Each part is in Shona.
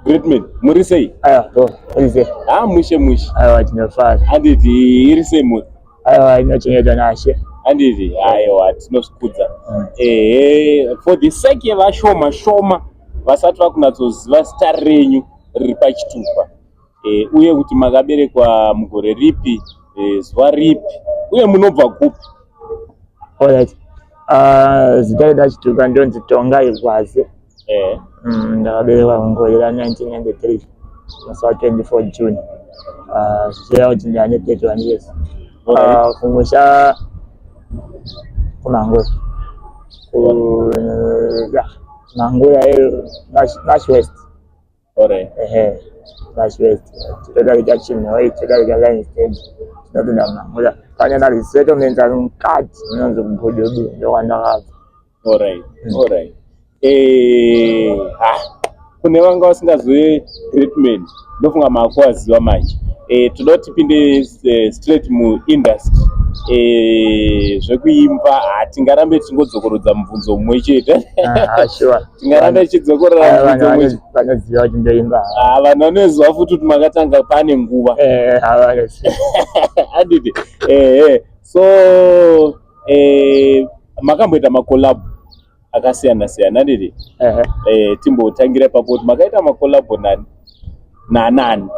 Great man, muri sei? Aya, to, muri sei? Ah, mushe mushe. Aya, tinofara. Handiti iri sei muri? Aya, inochengetwa nashe. Handiti, aiwa, tinozvikudza. Mm. Ehe, for the sake yevashoma shoma vasati vakunatsoziva zita renyu riri pachitupa. e, uye kuti makaberekwa mugore ripi e, zuva ripi uye munobva kupi Alright. Uh, zita redu achituka ndonzi tonga igwaze e. mm, ndakaberekwa mugore ra 1993 musi wa 24 june uh, zvichireva kuti ndane 31 years uh, kumusha kumangwe ku, uh, yeah, mangwe yayo nash west Alright. Ehe. That's right. Toda kuita chinhu wayi, toda kuita line step. Toda kuenda kumamuza. Kana na resettlement ari mukati unonzi kugododo ndokwana kabva. Alright. Mm. Alright. Eh, ha. Kune vanga vasingazive greatman ndofunga maakuwaziva manje. Eh, toda kuti tipinde eh, straight muindustry. Eh, zvekuimba hatingarambe tichingodzokorodza mubvunzo mumwe chete. Ah, sure. tingaramba ichidzokorera vanoziva kuti ndoimba ah, vanhu vanoziva futi kuti makatanga pane nguva eh, adidi ehe so eh, makamboita makolabo akasiyana siyana adidi eh, timbotangira ipapo kuti makaita makolabo nani nanani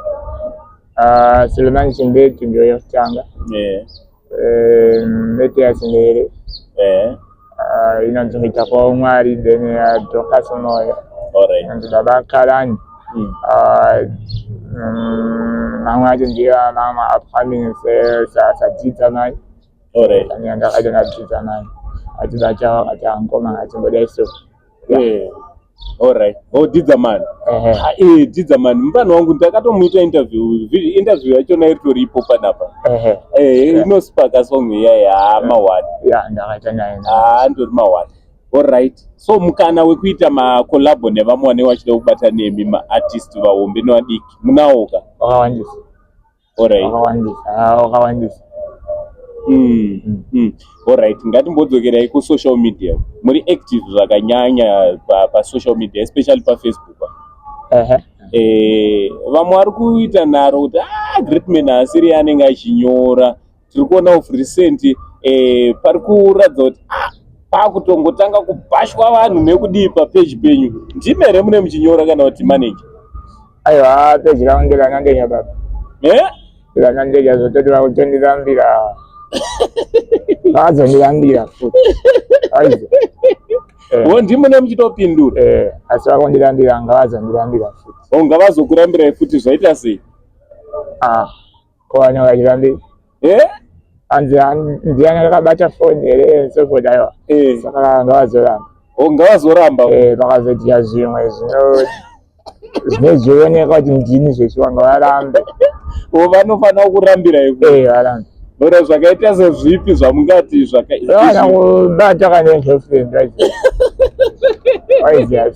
ah, sulemani chimbeti ndoyotanga eh, mete yasinere eh. ah, inonzi muita kwavo mwari then yadhokas unoya inonzi baba karani hmm. ah, mm, mamwe acho ndiyo mama upcoming sadzidza naye ndakadzidza naye achida chawo akati angoma achimboda iso Alright. Oh, Didza man. Ehe. Ah, eh, Didza man. Mfana wangu ndakatomuita interview. Vi- Interview yacho nayo tori ipo panapa. Ehe. Eh, Yeah. inospaka song iya ya mawani. Yeah, ndakaita naye. Ah, ndori mawani. Alright. So mukana wekuita ma collab nevamwe vane wachida kubata nemi ma artist vahombe nevadiki. Munawoka. Wakawandisa. Alright. wakawandisa ah, wakawandisa Mm, Mm. mm. Alright, ngatimbodzokerai kusocial media. Muri active zvakanyanya pa, pa social media especially pa Facebook. Ehe. Eh, vamwe vari kuita nharo kuti ah, Greatman haasiri anenge achinyora tiri kuona of recent eh, pari kuratidza kuti ah, pakutongotanga kubhashwa vanhu nekudii papeji penyu ndime here mune muchinyora kana kuti maneja aiwa peji ravo nderanandenya baba eh? ranandenya zvototi vakutonditambira vazondirambira futi aizo eh. wo ndimune muchitopindura eh, asi vakondirambira ngavazondirambira futi unga vazokurambirai futi zvaita sei ah. Kowana vachirambei. Eh? Anzi ndiani akabata phone here so forth aiwa. Eh. Saka ngavazoramba. Oh ngavazoramba. Eh vakazoita zvimwe zvino zvinozvioneka kuti ndini zvechiwa ngavarambe. Oh vanofanira kurambira iko. Eh varambe. Ora zvakaita sezvipi zvamungati zvakaita. Vana kubata kana girlfriend right? Why is that?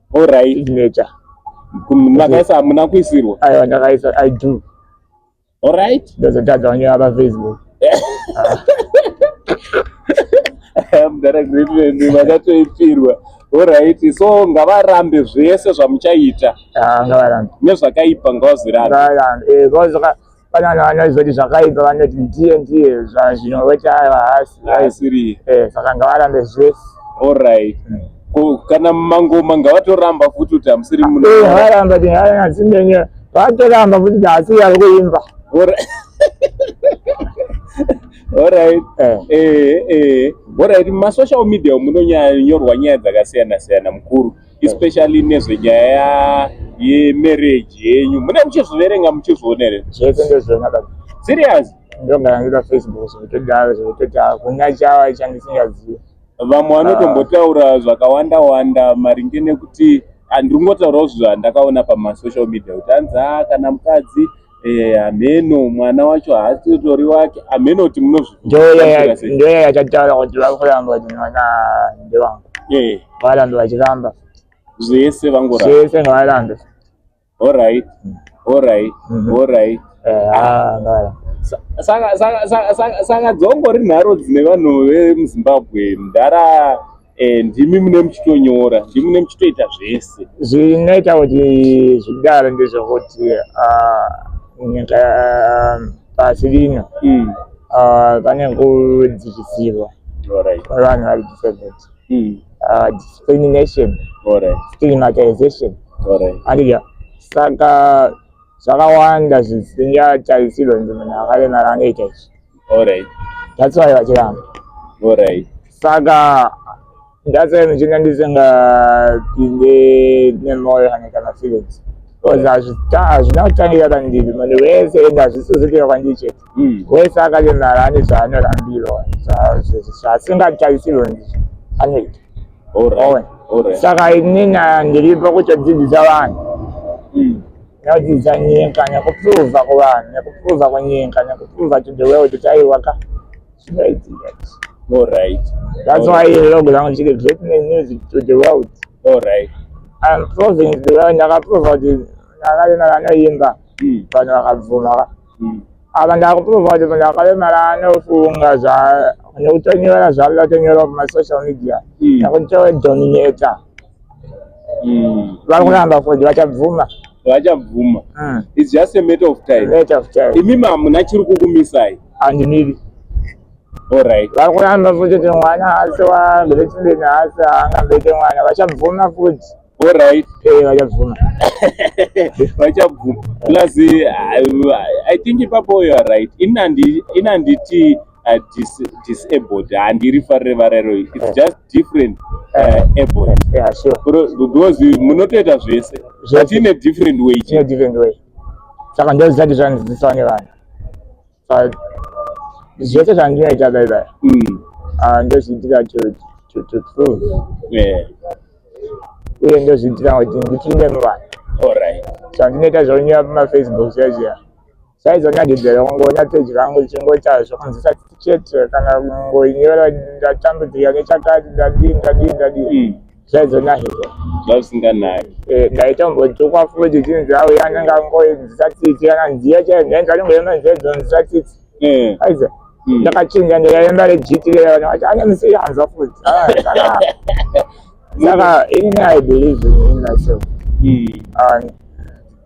Alright. Signature. Makaisa hamuna kuisirwa? Aiwa ndakaisa I do. Alright. Ndozotadza vange vapa Facebook. Mdara great man vakatoipirwa. Alright. So ngavarambe zvese zvamuchaita. Ah ngavarambe. Nezvakaipa ngavazirambe. Ngavarambe. Eh ngavazoka Panano vanozoti zvakaipa vanoti ndiye ndiye zvinoweta haasi haasiri eh saka ngavarambe zvese all right mm. kana mangoma ngavatoramba futi kuti hamusiri muno eh varamba kuti havana zimbenye vatoramba futi kuti haasi yari kuimba all right all right eh eh eh all right masocial media munonyorwa nyaya dzakasiyana siyana mukuru especially nezvenyaya yemarriage yenyu mune muchizviverenga muchizvionere zvese ndezvenaka serious ndongaangita facebook zvekudaro zvekutoti hakuna chava chandisingazive vamwe vanotombotaura ah. zvakawanda wanda maringe nekuti andiri kungotaurawo zvinhu zvandakaona pamasocial media kuti hanzi a ah, kana mukadzi Eh, hameno mwana wacho haasitori wake hameno kuti munozvindoya yachataura kuti vakuramba kuti mwana ndewangu eh. varambe vachiramba zvese vangorambazvese ngavarambe orit orit orit saka dzongori nharo dzine vanhu vemuzimbabwe mdhara Eh, ndimi mune muchitonyora ndimi mune muchitoita zvese zvinoita kuti zvidaro ndezvekuti ah, nyika ah, pasi rino mm. ah, pane kudzivisirwa kwevanhu vari disabled mm. discrimination stigmatization andidya saka zvakawanda zvisingatarisirwe nzimana akaremara anoita izvi Alright. That's why vachiramba. Alright. Saka ndasaka ndichinga ndisingapinde nemoyo kana kana feelings because hazvina kutangira pandiri munhu wese ende hazvisizitika kwandiri chete hmm. wese akalemara ane zvaanorambirwa zvaasingatarisirwe ndizvo anoita saka inini ndiripo kutodzidzisa vanhu hmm. Ndadzidza nyika nekuprova kuvanhu nekuprova kunyika nekuprova to the world kuti aiwa ka All right. That's why you log down to the great music to the world. All right. I'm proving to the world ndakaprova kuti ndakarema vanoimba hmm. vanhu vakabvuma ka. Hmm. Apa ndakuprova kuti munhu akarema anofunga zva nekutonyora zvavatonyora mumasocial media. Hmm. Ndakutodominata. mm. vari kuramba kuti vachabvuma vachabvuma mm. its just a matter of time matter of time imimi hamuna chiri kukumisai handimiri alright vari kuramba futi kuti mwana haasi wambelechindeni haasi angambeke mwana vachabvuma futi alright eh, vachabvuma vachabvuma plus uh, i think ipapo you are right ini handiti uh, dis, disabled handiri farire varairo its just different uh, able yeah, sure. because munotoita zvese but in a different way in a different way saka ndozati zvandidzidziswa nevanhu zvese zvandinoita baibai mm. ah, ndozviitira to to prove yeah uye ndozviitira kuti ndipinde muvanhu so ndinoita zvaunyora pamafacebook zviya zviya saizonyadzedzera kungonyatsedya angu chingoita zvokunzisa chete kana kungoinyora ndatambudzika nechakati ndadii ndadii ndadii hmm. zvaizonahirwa zvasinganaki eh, ndaitombotukwa futi chinzi awo yanenge angoinzisa tsitsi kana nziya chaiyo ndainzi anongoyema nziya dzonzisa tsitsi eh. aiza hmm. ndakachinja ndikayemba rejiti revana vati ane musiyanzwa futi ah, saka ini i believe in myself hmm.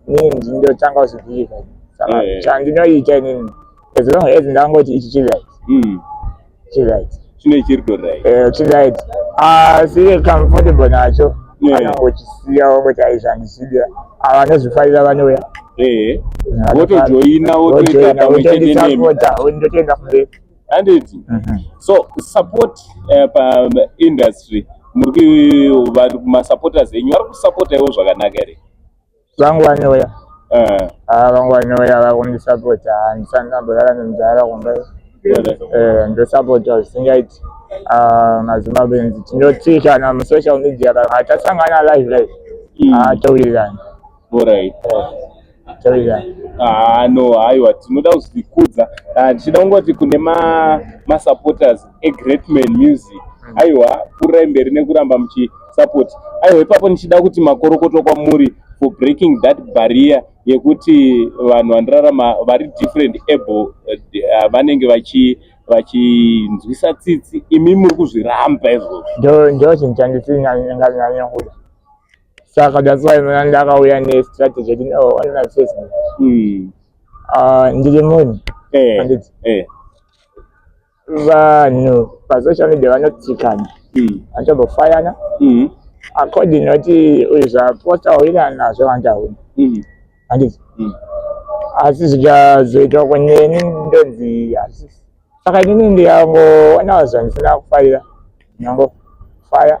inzi ndotanga kuzivika saka eh. chandinoita inini as long as ndangoti ichi chiright hmm. chiright chine chiri toright eh, chiright asi ah, comfortable nacho eh. anongochisiya wongoti aizvandisida ava anozvifarira vanouya votojoina votoita kamwe chete nemi ndotoenda kumberi handiti mhm. so support eh, paindustry muri masupporters enyu vari kusupporta ivo zvakanaka here vangu vanouya eh. ah, vangu vanouya vakundisapota handisani ndamborara nemudhara kumba eh, ndosapota zvisingaiti ah, mazimbabwenzi tinotsiikana musocial media kana hatasangana live live hmm. hatowirirani eh, ah, no haiwa tinoda kuzvikudza ndichida kungoti kune masupporters egreatman music hmm. aiwa pfurai mberi nekuramba muchi support aiwa ipapo ndichida kuti makorokoto kwamuri for breaking that barrier yekuti vanhu vandirarama vari different able uh, vanenge vachi vachinzwisa tsitsi imi muri kuzviramba izvozvo ndo chinhu chandisinyanyanyanya kuda saka that's why mna ndakauya nestrategy yekuti no oh, anona facebook hmm. ah, ndiri munhu eh, anditi eh. vanhu pasocial media vanotsikana hmm. vanotombofayana hmm. according noti uyu zvaposta uina nazvo vandauna hmm. handizi asi zvikazoita kuneni ndonzi hazisi saka inini ndiyangoona zvandisinga kufarira nyango faya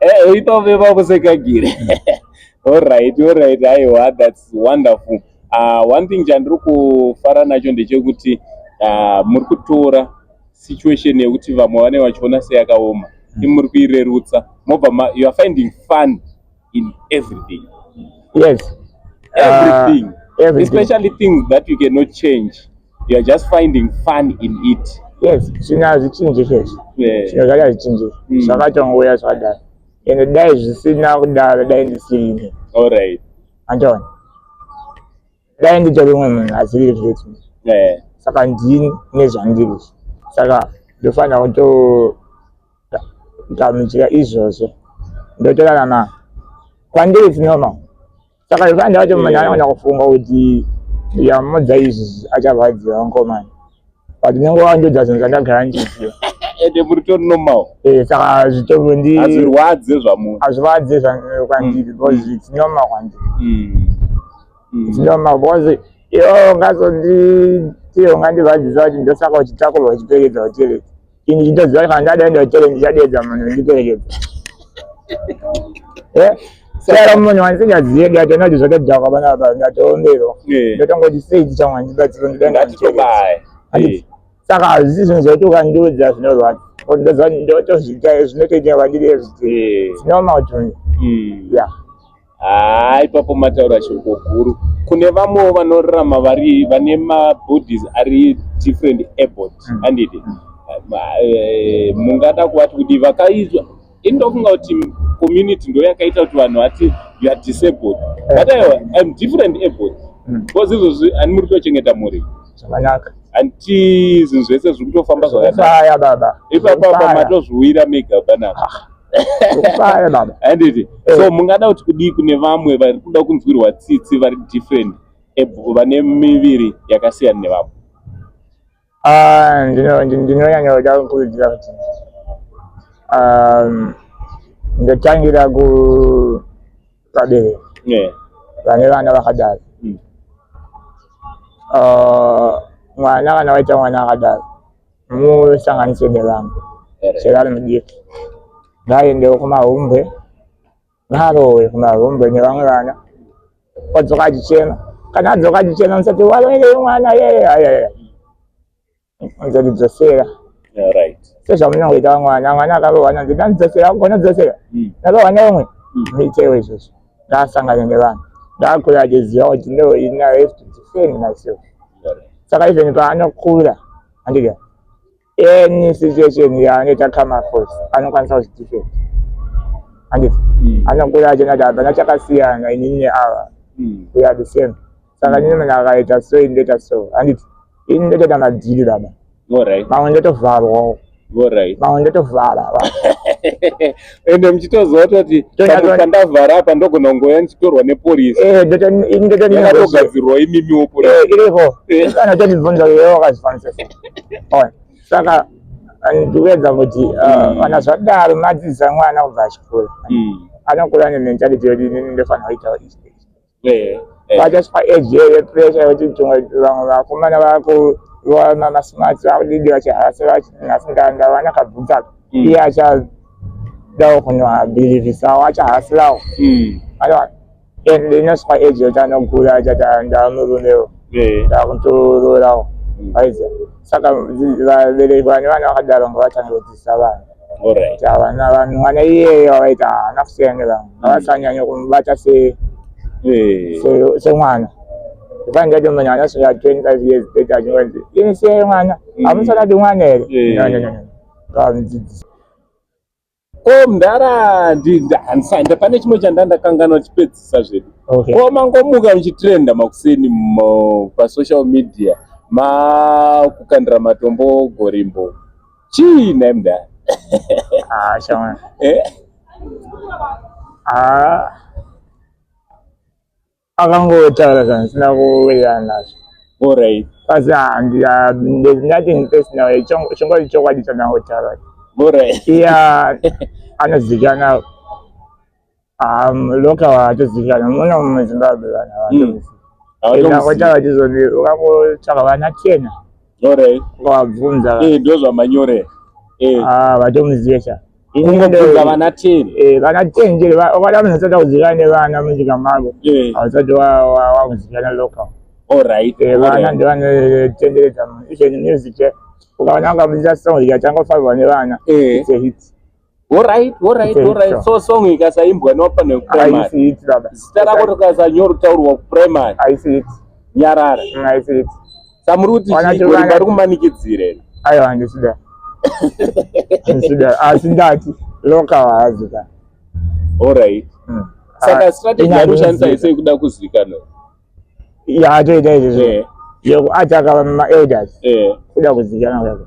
Eh, uipa veva kusekagire. All right, all right. Aiwa, that's wonderful. Uh, one thing chandiri kufara nacho ndechekuti uh, muri kutora situation yekuti vamwe vane vachiona seyakaoma mm. imuri kuirerutsa mobva you are finding fun in everything yes everything, uh, everything. especially things that you cannot change you are just finding fun in it yes zvino hazvichinji chese zvino zvake hazvichinji mm. zvakatongouya zvadaro ende dai zvisina kudaro dai ndisirine allright andiona dai nditori umwe munhu asiri zveti saka ndini nezvandiri saka ndofanira kutogamuchira izvozvo ndotorarama kwandiri zvinoma saka zvekuti andava kuti munhu anogona kufunga kuti yamudza izvi acharwadziwa nkomani but nyange wandodza zvinhu zvandagara ndichiziva ende muri to normal eh saka zvitoro ndi azvirwadze zvamu azvirwadze zvamu kwandiri mm. because it's normal kwandiri mm. mm. it's normal because iyo ngazo ndi tiyo ngandivadzisa kuti ndosaka uchitakurwa uchipfekedza uchereti ini chitoziva kana ndadaenda kuchero ndichadeedza munhu ndiperekedza eh? sara munhu wandisingazive ndati anoti zvakadhakwa vana vapa ndatoomberwa eh. ndotongoti sei chichamwa ndibatsiro ndidaenda ndiperekedza saka hazvisi zvinhu zvaiti ukandiudza zvinorwadza ndozvinotoita zvinotoita kwandiri ezviti eh. zvinoma utunzi hmm. ya haa ipapo mataura shoko guru kune vamwewo vanorarama vari vane mabodies ari different airport mm. andidi mm. Eh, mungada kuvati kudii vakaizwa ini ndofunga kuti community ndo yakaita kuti vanhu vati you are disabled eh. but aiwa im different airport mm. because izvozvi ani muri kutochengeta mhuri zvakanaka hanti zvinhu zvese zviri kutofamba zvakaipapapamatozviwira mega banaa Ukaya baba. Handiti. Eh. So mungada kuti kudii kune vamwe vari kuda kunzwirwa tsitsi vari different vane miviri yakasiyana nevamwe. Ah, ndino ndinonyanya kuda kukurudzira kuti um ndotangira ku pabereki. Yeah. Vane vana vakadaro. Mm. Uh, mwana kana waita mwana akadaro musanganise nevamwe chero ari mudiki ngaaendewo kumahumbwe ngaarowe kumahumbwe nevamwe vana odzoka achichema kana adzoka achichema musati waroerei mwana yeye ayaya nzoti dzosera sezvamunongoita vamwana mwana akarohwa nonzi ndandidzosera kugona dzosera hmm. ndarohwa neumwe muitewo hmm. izvozvo ndaasangana nevanhu ndakura achiziva kuti no ini i have to defend myself saka even paanokura andiga any situation yaanoita kama force anokwanisa kuzvidefend anditi hmm. anokura achiona kuti hapana chakasiyana inini neava hmm. we are the same saka nini munhu akaita so ini ndoita so handiti ini ndotoita madhiri baba mamwe ndotovharwawo mamwe ndotovhara ende muchitoziva toti kandavhara apa ndogona kungoya ndichitorwa nepolisiyakatogadzirwa eh, imimiwo polisiripo eh, eh. kana totibvunza uyo wakazvifanisa saka ndikuedza kuti kana uh, zvadaro madzidzisa mwana kubva achikura hmm. anokura nementality yoti inini ndofanira kuitawo izvi vachaswa eji here pressure vachiti vamwe vakomana vakuroana masmart vakudidi vachiharasa vachinhasi ndavana kabvunzaka hmm. iye acha dawo kunwa believe sawo achahasirawo hmm. aiwa and inoswa age yoti anogura achati ah, ndamurumewo ndakuntororawo hmm. aiza saka vabereki vane vana vakadaro ngovatange kudzisa vanhu vana vanhu vana iyeye vavaita haana kusiyana nevamwe mm. avasanyanya kumubata se eh. semwana ifani ndati munhu anasvika 25 years beta achingonzi ini siyai mwana mm. hamusanati mwana here eh. vamudzidzisa ko mdara handisanda pane chimwe chanda ndakanganwa chipedzisa zvedu ko mangomuka muchitrenda makuseni pasocial media makukandira matombo gorimbo Chii nhai mdara? Ah, shamwari. Eh? Ah. Akangotaura zvanhu sina kuwirirana nazvo. All right. Kasi handi ah, there's nothing personal. Chingori chokwadi chandangotaura. All right. Yeah. Anozikana. Ah, loka hawatozivikanwa mona muzimbabwe vanhu hawatozivikanwaita hmm. vachizoti ukangotsvaka vana chena ukavabvunza eh, ndozvamanyore eh. ah, vatomuzive sha kungobvunza vana ten eh, vana ten nje ukada munhu asati akuzivikana nevana munyika mako hausati wakuzivikana loka vana ndivanotenderedza music ukavana ukamuziva song ikatanga kufambwa nevana it's a hit Alright, alright, alright. So song ikasaimbwa nopa ne primary. Zita rako rikasanyoro taurwa ku primary. I see it. Nyarara. Mm, I see it. Samuri kuti chiko vari kumanikidzire. Ayo handisida. Handisida. Asi ndati loka wazika. Alright. Mm. Saka ah, strategy yari kushandisa ise kuda kuzikana. Ya atoita izvo. Yeah. Yekuataka ma elders. Yeah. Kuda kuzikana kwako.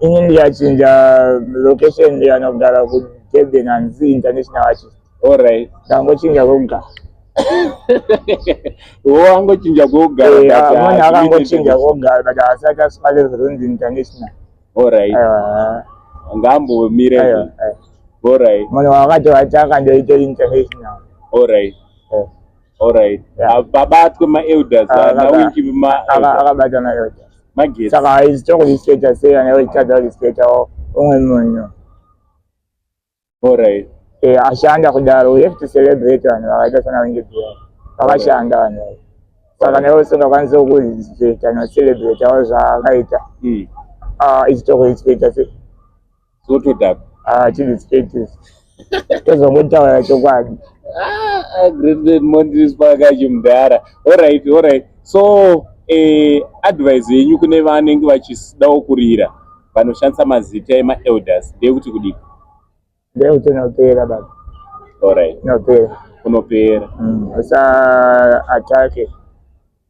ini ndikachinja location ndikana kugara kudurban hanzi international artist allright ndangochinja koga wangochinja kogaamoni eh, akangochinja koga but asati aspa level ronzi international allright ngambomire allright moni wakati vati akandoita international allright Alright. Yeah. Ah, Babatwe ma elders Ah, ah, na baba- winki ma Aka- elders. akabata maelda Magetsi. saka haizi tokuzvispeta sei kana iwe uchitadza kuzvispeta umwe munhu Alright. Eh, ashanda kudaro we have to celebrate vanhu vakaita sana wingi bhiya vakashanda vanhu ava. saka kana iwe usingakwanisi kuzvispeta nocelebratawo zvaakaita Mm. ah, ichitokuzvispeta sei zvotoda ah chii status tozongotaura chokwadi ah, ah great great mondris pakachi mudhara all right all right so eh advice yenyu kune vanenge vachidawo kurira vanoshandisa mazita ema elders ndeyekuti kudii ndeyekuti unopera baba all right unopera unopera mm, usa atake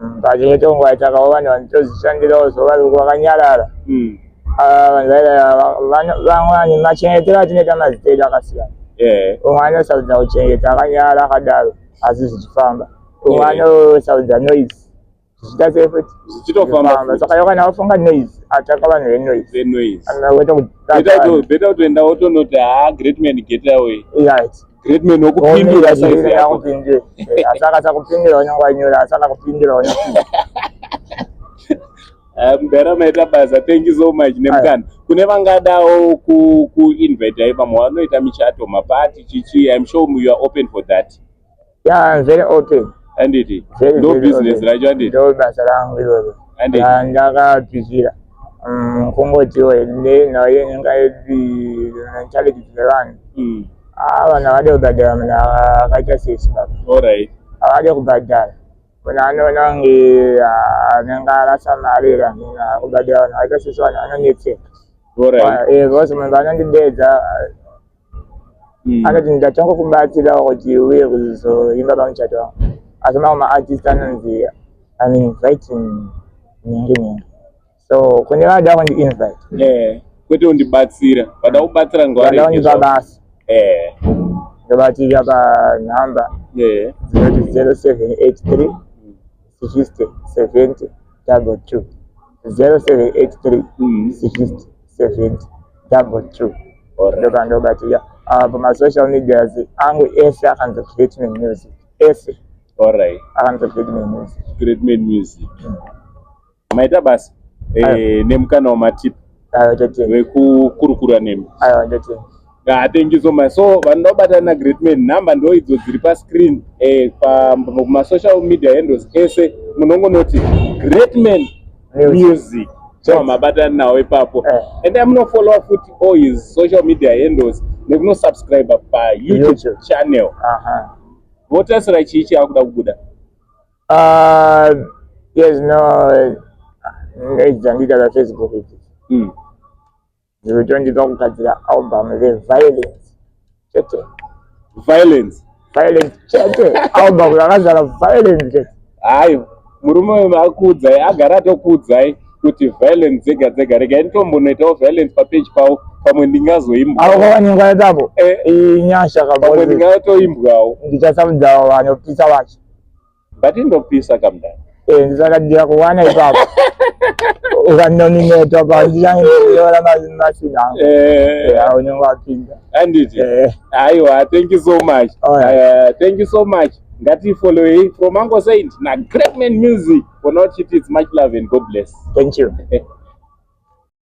Mm, pachimwe chonguva chakavo vanhu vanotozvishandirawo so vari vakanyarara mm. ah, vanhu vaida vamwe vanhu machengetero atinoita mazita edu akasiyana umwe anosarudza kuchengeta akanyara akadaro asi zvichifamba umwe anosarudza noise zvichita sei futi zvichitofamba saka yokana wafunga noise ataka vanhu venoise anoita kutibeta kutoenda wotonoti ha ah, great man get away right Great man okupindura size yako. Asaka sakupindura nyangwa nyora asaka kupindura nyangwa. Eh, mudhara maita basa thank you so much nemukana kune vangadawo kuinvita ku ipamo vanoita michato mapati chichi im sure you are open for that yeah, very open anditi ndo business racho anditi ndo basa rangu iroro ndakatizira mm, kungotiwo naye inga challenge dzevanhu mm. Ah, vanhu havade kubhadhara munhu akaita sesi baba. Alright. Havade kubhadhara. Munhu anoona kunge ah, anenge arasa mari here amene akubhadhara vanhu vakaita sesi vanhu vanonetseka. Alright. Ah, eh, because munhu paanondideedza mm. anoti ndatanga kubatsira kuti uye kuzoimba pamuchato wangu. Asi mamwe maartist anonzi I'm inviting nyenge nyenge. so kune vada kundi invite eh kwete undibatsira vada kubatsira ngwari vada kundipa basa eh ndobatirira pa number eh zinoti 0783 60 70 double two 0783 60 70 double two ndoka ndobatirira apa ah, masocial medias angu ese akanzi create me music ese all right akanzi create me music create me music mm. maita basa eh, nemukana wamatipa wekukurukura nemi hatengiso ma so vanoda kubatana na great man number ndo idzo dziri pascreen eh, kumasocial media handles ese munongonoti great man music so mabatana nawo ipapo eh. and amunofollowa futi all his social media handles nekunosubscribe payoutube channel votasira chii chaakuda kubuda Uh, yes, no, ndaidzandita za Facebook idzi mm. dzirikutondika kugadzira album the violence chete violence violence chete album rakazara violence chete hayi murume uyu maakuudzai agara atokuudzai kuti violence dzega dzega regai nditombonoitawo violence papeji pavo pamwe ndingazoimbwaoawaningwaitapo eh. inyasha pamwe ndingatoimbwawo ndichasabudzawo vanopisa vacho But indopisa kamdani. Eh, ndisakadira kuwana ipapo. Ukanonimeta pa ndiyanyora machina. Eh, eh aunyonga wapinda. Anditi. Eh. Aiwa, thank you so much. Oh, yeah. uh, thank you so much. Ngati follow him from Mango Saint na Great Man Music. For not it is much love and God bless. Thank you.